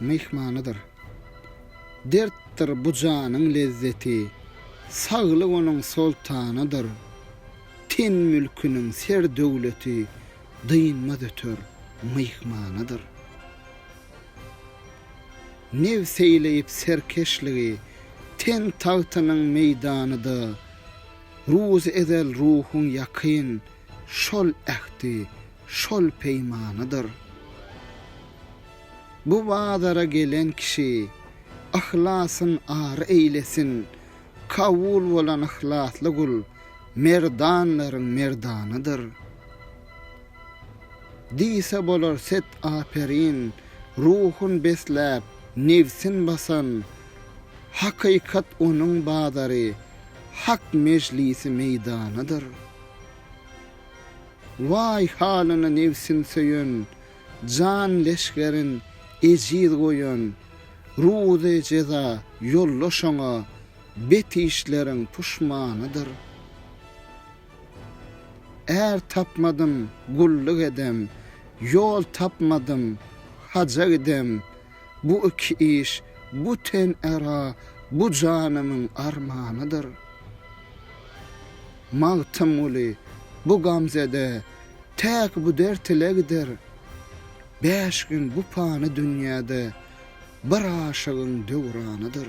myhmanydyr. Dertdir bu janyň lezzeti, saglyk onuň soltanydyr. Ten mülküniň ser-döwleti, dynmaz öter, myhmanydyr. Nebs eýleýip serkeşligi, ten tagtynyň meýdanyda. Ruz ezel ruhuň ýakyn, şol ähti şol peýmanydyr. Bu bazara gelen kişi yhlasyn ar eýlesin, kabul bolan yhlasly gul merdanlaryň merdanydyr. Diýse bolar set aperin, ruhun besläp, nebsin basan, hakykat onuň bazary, hak mejlisi meýdanydyr. Waý halyna nebsin söýen, Jan leşgerin ejiz goýan, Ruzy jeza ýolla şoňa, Bet işleriň puşmanydyr. Är tapmadym, gulluk edem, Ýol tapmadym, haja gidem, Bu iki iş bu ten ära bu janymyň armanydyr. Magtymguly bu gamzede täk bu dert ile gider. Bäş gün bu pany dünýäde bir aşygyň döwranydyr.